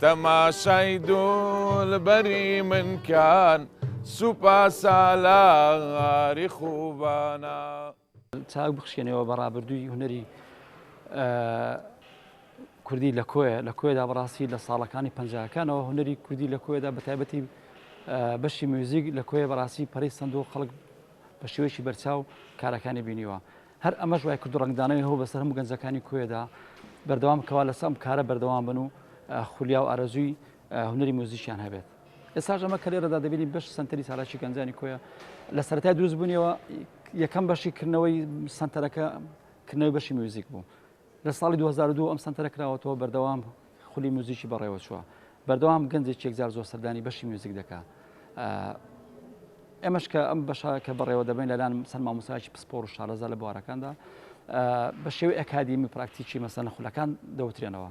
تەماشای دولبەری من کان سوپا سالاری خوبانا. چاک بخشێنەوە بە ڕابردووی هونەری کوردی لە کۆیە لە کۆێدا بەڕاستی لە ساڵەکانی پنجکانەوە هونەری کوردی لە کۆێدا بە تایبەتی بەشی میوزیک لە کۆیە بەڕاستی پەری سندوق خەڵک بە شێوەیەکی بەرچاو کارەکانی بینیوە هەر ئەمەش وای کردو ڕەنگدانەوەی هەوڵ بەسەر هەموو گەنجەکانی کۆیەدا بەردەوام کەوا لەسەر ئەم کارە بەردەوام بن و خولیا و ئارەزووی هونەری موزیکیان هەبێت. ئێستاش ئەمە کە لێرەدا دەبینین بەشی سەنتەری چالاکی گەنجانی کۆیە لە سەرەتای دروستبوونیەوە یەکەم بەشی کردنەوەی سەنتەرەکە کردنەوەی بەشی میوزیک بوو. لە ساڵی دوو هەزار و دوو ئەم سەنتەرە کراوەتەوە، بەردەوام خولی موزیکی بەڕێوەچووە، بەردەوام گەنجێک یەکجار زۆر سەردانی بەشی میوزیک دەکا. ئێمەش کە ئەم بەشە کە بەڕێوە دەبین لەلان چەند مامۆستایەکی پسپۆر و شارەزا لە بوارەکاندا بە شێوەی ئەکادیمی پراکتیکی مەسەلەن خولەکان دەوترێنەوە.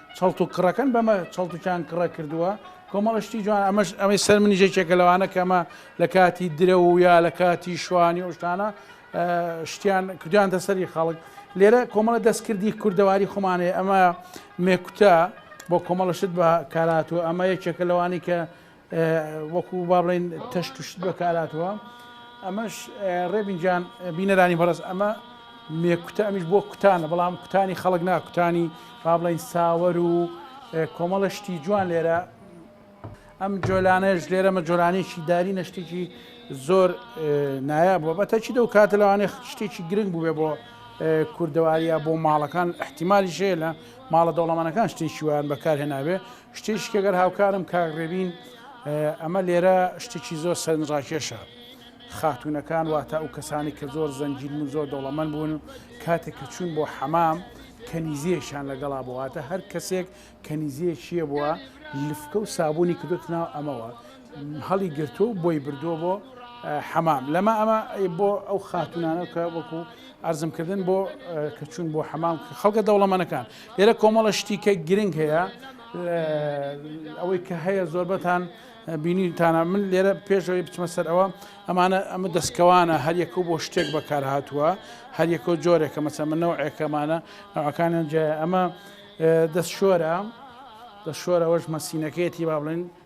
چڵت و کڕەکەن بەمە چڵت و چان کڕە کردووە کۆمەڵە شتی جوان ئەمەش ئەمەی سەر منی ژێکێکە لەوانە کەمە لە کاتی درە و یا لە کاتی شوانی ئەوشتانە شتیان کردیانتە سەری خەڵک لێرە کۆمەڵە دەستکردی کوردەواری خۆمانەیە ئەمە مێکوتە بۆ کۆمەڵە شت بە کارات و ئەمە یەکێکە لەوانی کە وەکو با بڵێن تەشت و شت بەکاراتەوە ئەمەش ڕێبین جان بینەرانی بەڕز ئەمە مێکوتە ئەمیش بۆ کوتانە بەڵام کوتانی خەڵک ناکوتانی با بڵین ساوەر و کۆمەڵە شتی جوان لێرە ئەم جۆلانەش لێرەمە جۆرانێکی داری نەشتێکی زۆر نایە بووە بە تەچی دە و کاتە لەوانێ شتێکی گرنگ بووێ بۆ کوردەواریە بۆ ماڵەکان احتیممالی شێ لە ماڵە دەوڵەمانەکان شتێکی ویان بەکارهێناوێ شتێکی کە گەر هاوکارم کاک ڕێبین ئەمە لێرە شتێکی زۆر سەرنج ڕاکێشە خاتونەکان واتە ئەو کەسانی کە زۆر زەنجیل و زۆر دەوڵەمەند بوون کاتێک کە چوون بۆ حەمام کەنیزیەکیان لەگەڵا بوواتە هەر کەسێک کەنیزیەکیە بووە لفکە و سابوونی کردوتناو ئەمەوە هەڵی گرتووە و بۆی بردووە بۆ حەمام لەمە ئەمە بۆ ئەو خاتونانە کە وەکو ئەرزم کردن بۆ کە چوون بۆ حەمام خەڵکە دەوڵەمەنەکان لێرە کۆمەڵە شتیکە گرنگ هەیە ئەوەی کە هەیە زۆربەتان بینیتانە من لێرە پێشەوەی بچمە سەر ئەوە ئەمانە ئەمە دەستکەوانە هەریەکە بۆ شتێک بەکار هاتووە هەریەکە جۆرێکە مەسە من نەوە ئەکەمانە ناوەکانیان جای ئەمە دەست شۆرە دەست شۆرەوەش مەسینەکەیەتی با بڵێن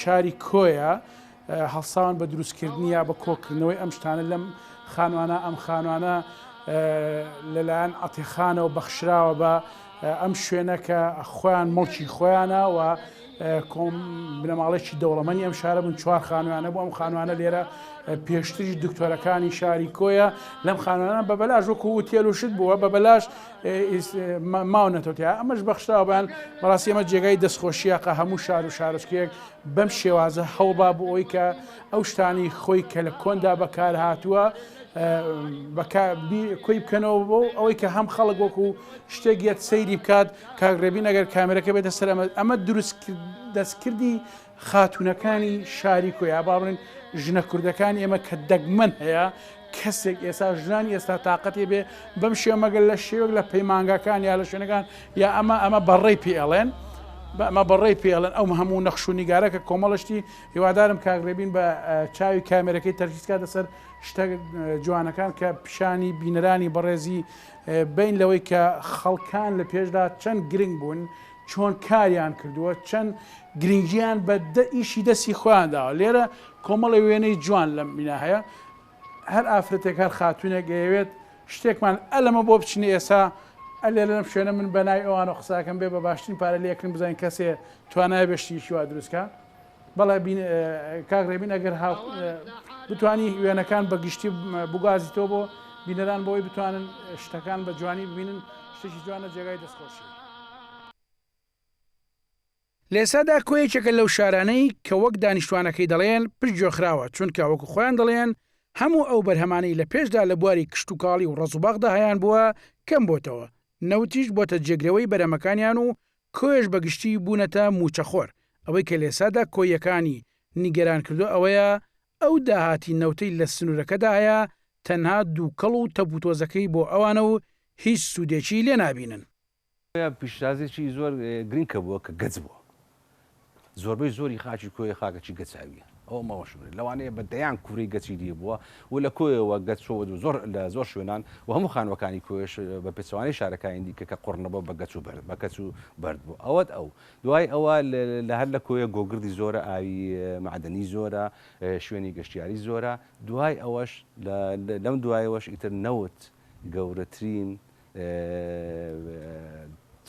شاری کۆیە هەڵساون بە دروستکردنی یا بە کۆکردنەوەی ئەم شتانە لەم خانوانە ئەم خانوانە لەلایەن عتیخانەوە بەخشراوە بە ئەم شوێنە کە خۆیان مڵکی خۆیانە و کۆم بنەماڵێکی دەوڵەمەنی ئەم شارە بوون چوار خانوانە بۆ ئەم خانوانە لێرە پێشتریش دکتۆرەکانی شاری کۆیە لەم خانوانە بە بەلاش وەکو وتێل و شت بووە بە بەلاش ئیس ماونەتەوە تیا ئەمەش بەخشراوە بەیان بەڕاستی ئەمە جێگای دەستخۆشیە قە هەموو شار و شارۆچکێک بەم شێوازە هەوڵبا بۆ ئەوی کە ئەو شتانی خۆی کە لە کۆندا بەکار هاتووە کۆی بکەنەوە بۆ ئەوەی کە هەم خەڵک وەکو شتێک یەت سەیری بکات کاگرێبی نەگەر کامێرەکە بێتە سەر ئەمە ئەمە دروست دەستکردی خاتوونەکانی شاری کۆیە با بڵێن ژنە کوردەکانی ئێمە کە دەگمەن هەیە کەسێک ئێستا ژنانی ئێستا تااقەتی بێ بەم شێ مەگەل لە شێوەک لە پەیمانگاکان یا لە شوێنەکان یا ئەمە ئەمە بەڕێ پێڵێن بەمە بەڕێ پێڵن ئەو هەموو نەخش و نیگارە کە کۆمەڵشتی هیوادارم کاگرێبین بە چاوی کامێرەکەی تەرکیزکە دەسەر شتە جوانەکان کە پیشانی بینەرانی بەڕێزی بین لەوەی کە خەڵکان لە پێشدا چەند گرنگ بوون چۆن کاریان کردووە، چەند گرنگییان بە ئیشی دەستی خۆیان داوە، لێرە کۆمەڵێ وێنەی جوان لەم بینا هەیە، هەر ئافرەتێک هەر خاتوونێک ئەیەوێت شتێکمان ئە لەمە بۆ بچنە ئێسا ئە لێرە لەم شوێنە من بە ناوی ئەوانەوە قساکەم بێ بە باشترین پارە لێکن بزانین کەسێ توانای بێ شتێکی وا دروستکا. بەڵێ بین کاک ڕێبین ئەگەر هاو بتانی وێنەکان بە گشتی بگازیتەوە بۆ بینەران بۆی بتوانن شتەکان بە جوانی ببینن شتێکی جوانە جێگای دەستخۆشی. لێسادا کۆ یەکێکە لەو شارانەی کە وەک دانیشتوانەکەی دەڵێن پشت گوێخراوە، چونکە وەکو خۆیان دەڵێن هەموو ئەو بەرهەمانەی لە پێشدا لە بواری کشتوکاڵی و ڕەزوباخدا هەیانبووە کەمبۆتەوە، نەوتیش بۆتە جێگرەوەی بەرەمەکانیان و کۆیەش بە گشتی بوونەتە مووچەخۆر، ئەوەی کە لێسادا کۆییەکانی نیگەران کردووە ئەوەیە ئەو داهاتی نەوتەی لە سنوورەکەدا هەیە تەنها دووکەڵ و تەپوتۆزەکەی بۆ ئەوانە و هیچ سوودێکی لێنابینن. کۆیە پیشتازێکی زۆر گرنگ کە بووە کە گەچ بووە. زۆربەی زۆری خاکی کۆیە خاکەکی گەچاویە ئەوە مەوەش بێت لەوانەیە بە دەیان کوورەی گەچی دی بووە و لە کۆیەوە گەچ چۆوە و زۆر لە زۆر شوێنان و هەموو خانووەکانی کۆیەش بە پێچەوانەی شارەکانی دیکە کە قوڕ نەبووە بە گەچ و بەرد بە کەچ و بەرد بوو ئەوەت ئەو دوای ئەوە لە هەر لە کۆیە گۆگردی زۆرە ئاوی مەعدەنی زۆرە شوێنی گەشتیاری زۆرە دوای ئەوەش لە لەم دوایەوەش ئیتر نەوت گەورەترین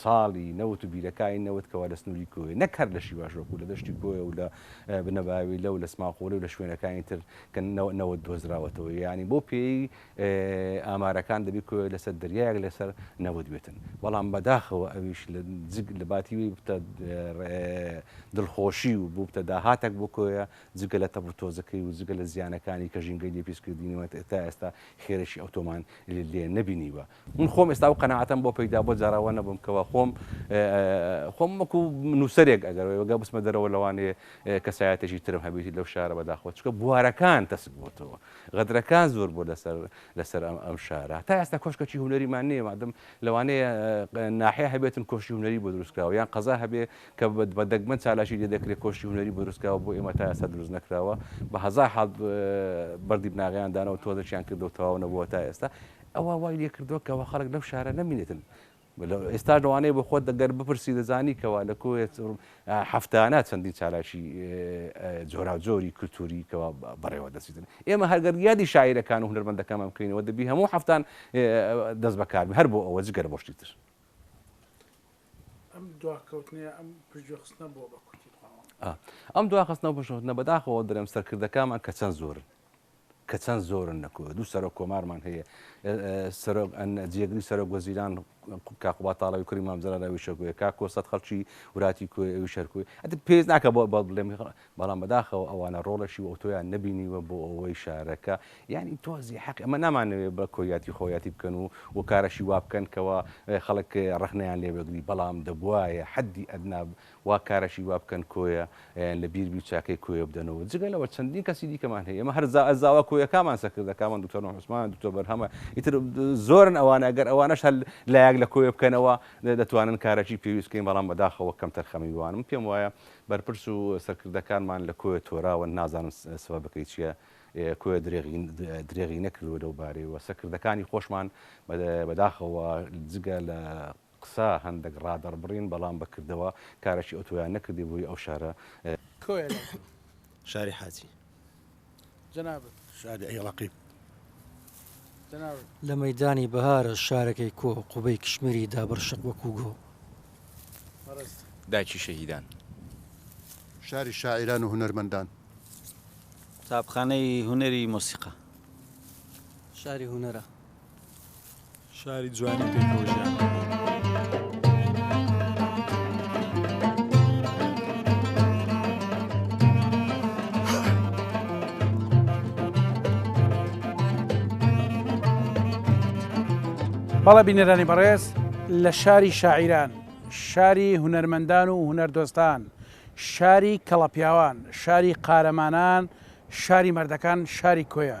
چاڵی نەوت و بیرەکانی نەوت کەوا لە سنووری کۆیە، نەک هەر لە شیواش وەکوو لە دەشتی کۆیە و لە بنەباویلە و لە سماقوڵی و لە شوێنەکانی تر کە نەوت دۆزراوەتەوە، یانی بەو پێیەی ئامارەکان دەبی کۆیە لەسەر دەریایەک لەسەر نەوت بێتن، بەڵام بەداخەوە ئەویش لە جگ لە باتی وی ببتە دڵخۆشی و ببتە داهاتەک بۆ کۆیە جگە لە تەپ و تۆزەکەی و جگە لە زیانەکانی کە ژینگەی لێ پیس کردینەوە تا ئێستا خێرێکی ئەوتۆمان لێ نەبینیوە من خۆم ئێستا و قەنەعاتم بۆ پەیدا بۆ جاراوە نەبووم کەەوە خۆم خۆم وەکو نووسەرێک ئەگەرەوەگە بسمە دەرەوە لەوانێ کەسایەتێکی ترم هەبێتی لەو شارە بەداخۆ چکە بوارەکان تەسک بۆتەوە غەدرەکان زۆر بۆ لەسەر لەسەر ئەم ئەم شارە تا ئێستا کۆشکەکی هوەریمان نیە مادەم لەوانەیە ناحێ هەبێتن کۆشی هوەری بۆ دروستکراوە یان قەزا هەبێ کە بە دەگمەن چالاکی لێ دەکرێت کۆشکی هونەری بۆ دروست کراوە بۆ ئێمە تا ئێستا دروست نەکراوە بە هەزار حاڵ بەردی بناغەیان دانەوە تۆزەکیان کردەوە تەواو نەبووە تا ئێستا ئەوە وای لێ کردووە کەەوە خەڵک لەو شارە نەمینێتن ئێستا لەوانەیە بۆ خۆت دەگەر بپرسی دەزانی کەوا لە کۆێت هەفتانە چەندین چالاکی جۆراوجۆری کللتوری کەوا بەڕێوە دەچیتن ئێمە هەرگەر یادی شاعیرەکان و هەربەندەکەمان بکەینەوە دەبی هەموو هەفتان دەست بەکاربی هەر بۆ ئەوە جگەر بۆشتی تر ئەم دواکەوتنەیە ئەم پشتگوێخستنە بۆ بە کورتی بڵاوە؟ ئەم دواخستنە و پشتخستنە بەداخەوە درێم سەرکردەکانمان کە چەند زۆرن کە چەند زۆرن لە کوێ دوو سەرۆک کۆمارمان هەیە سەرۆک جێگری سەرۆک وەزیران کاقوبا تاڵەوی کوری مامزرا لەوی شەکوێ کا کۆسەت خەڵکی وراتی کوێ ئەوی شەرکوێ ئەت پێز ناکە بۆ بەڵێم بەڵام بەداخەوە ئەوانە ڕۆڵەشی و ئەوتۆیان نەبینیوە بۆ ئەوەی شارەکە یانی تۆزێ حەقی ئەمە نامانەوێ بە کۆیاتی خۆیاتی بکەن و و کارەشی وا بکەن کەوا خەڵک ڕەخنەیان لێ وەگری بەڵام دەبوایە حەدی ئەدنا وا کارەشی وا بکەن کۆیە یان لە بیر بی و چاکەی کۆیە بدەنەوە جگە لەوە چەندین کەسی دیکەمان هەیە ئێمە هەر زا زاوا کۆیەکامان سەکردە کامان دکتۆر نوح عوسمان دکتۆر بەرهەمە ئیتر زۆرن ئەوانە گەر ئەوانەش هەل لایەک لە کۆیە بکەنەوە دەتوانن کارەکی پێویست بکەین بەڵام بەداخەوە کەمتەرخەمی وانم پێم وایە بەرپرس و سەرکردەکانمان لە کۆیە تۆراون، نازانم سەبەبەکەی چییە، کۆیە درێغی نەکردووە لەو بارەیەوە، سەرکردەکانی خۆشمان بەداخەوە جگە لە قسە هەندێک ڕادەڕبڕین، بەڵام بە کردەوە کارێکی ئەوتۆیان نەکردبووی ئەو شارە. کۆیە لە شاری حاجی. لە مەیدانی بەهارە شارەکەی کۆ قوبەی کشمیری دابڕ شق وەکوو گۆ. دایکی شەهیدان. شاری شاعیران و هونەرمەندان. قوتابخانەی هونەری مۆسیقا. شاری هونەرە. شاری جوانی پێکەوە ژیان بەڵە بینەرانی بەڕێز لە شاری شاعیران شاری هونەرمەندان و هونەردۆستان شاری کەڵەپیاوان شاری قارەمانان شاری مردەکان شاری کۆیە